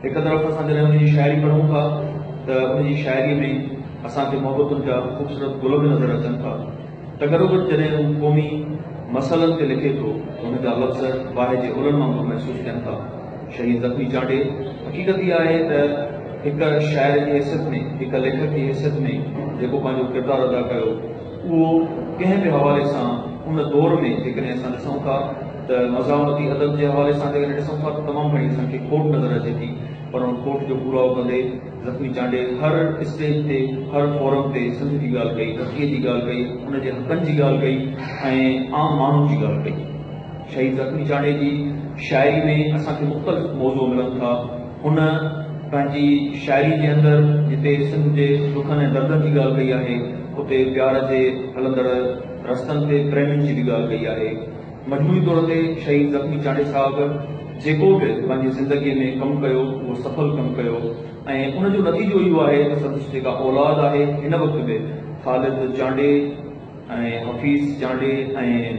هڪ طرف اسان جڏهن ان جي شاعري پڙهون ٿا ته ان جي شاعري ۾ اسان کي محبتن جا خوبصورت گل به نظر اچن ٿا ته گڏوگڏ جڏهن هو قومي مسئلن تي لکي ٿو ته هن جا لفظ باهه جي اولن وانگر محسوس ٿين ٿا. شهيد زخمي چانڊئي حقيقت اها آهي ته هڪ شاعر جي حيثيت ۾ هڪ ليکڪ جي حيثيت ۾ جيڪو پنهنجو ڪردار ادا ڪيو، اهو ڪنهن به حوالي سان ان دور ۾ جيڪڏهن اسان ڏسون ٿا ته مزاحمتي ادب جي حوالي سان جيڪڏهن ڏسون ٿا ته تمام گهڻي اسان کي کوٽ نظر اچي ٿي پر ان کوٽ جو پورائو ڪندي زخمي چانڊئي هر اسٽيج تي هر فورم تي سنڌ جي ڳالهه ڪئي ڌرتيء جي ڳالهه ڪئي ان جي حقن جي ڳالهه ڪئي ۽ عام ماڻهن جي ڳالهه ڪئي شهيد زخمي چانڊئي جي شاعري ۾ اسان کي مختلف موضوع ملن ٿا. هن پنهنجي شاعري جي اندر جتي سنڌ جي دکن ۽ دردن جي ڳالهه ڪئي آهي، اتي پيار جي هلندڙ رستن تي پريمين جي به ڳالهه ڪئي آهي. مجموعي طور تي شهيد زخمي چانڊئي صاحب جيڪو به پنهنجي زندگيء ۾ ڪم ڪيو، اهو سڦل ڪم ڪيو ۽ ان جو نتيجو اهو آهي ته سندس جيڪا اولاد آهي، هن وقت به خالد چانڊئي ۽ حفيظ چانڊئي ۽.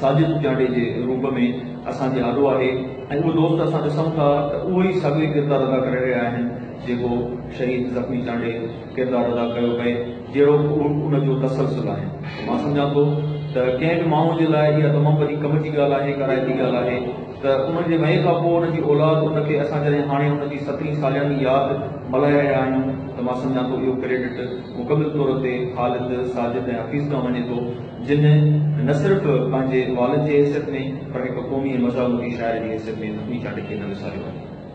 ساجد پڄاڻي جي روپ ۾ اسان جي آڏو آهي ۽ اهو دوست اسان ڏسون ٿا ته اهو ئي ساڳيو ئي ڪردار ادا ڪري رهيا آهن جيڪو شهيد زخمي چانڊئي ڪردار ادا ڪيو پئي جهڙو اهو ان جو تسلسل آهي مان سمجهان ٿو ته ڪنهن به ماڻهو جي لاء اها تمام وڏي ڪم جي ڳالهه آهي ڪارائتي ڳالهه آهي ته ان جي وئي کان پوء ان جي اولاد ان کي اسان جڏهن هاڻي ان جي سترهين سالياني ياد ملهائي رهيا آهيون ته مان سمجهان ٿو اهو ڪريڊٽ مڪمل طور تي خالد ساجد ۽ حفيظ کان وڃي ٿو جن نه صرف پنهنجي والد جي حيثيت ۾ پر هڪ قومي ۽ مزاحمتي شاعر جي حيثيت ۾ حتمي چانڊڪي نه وساريو آهي.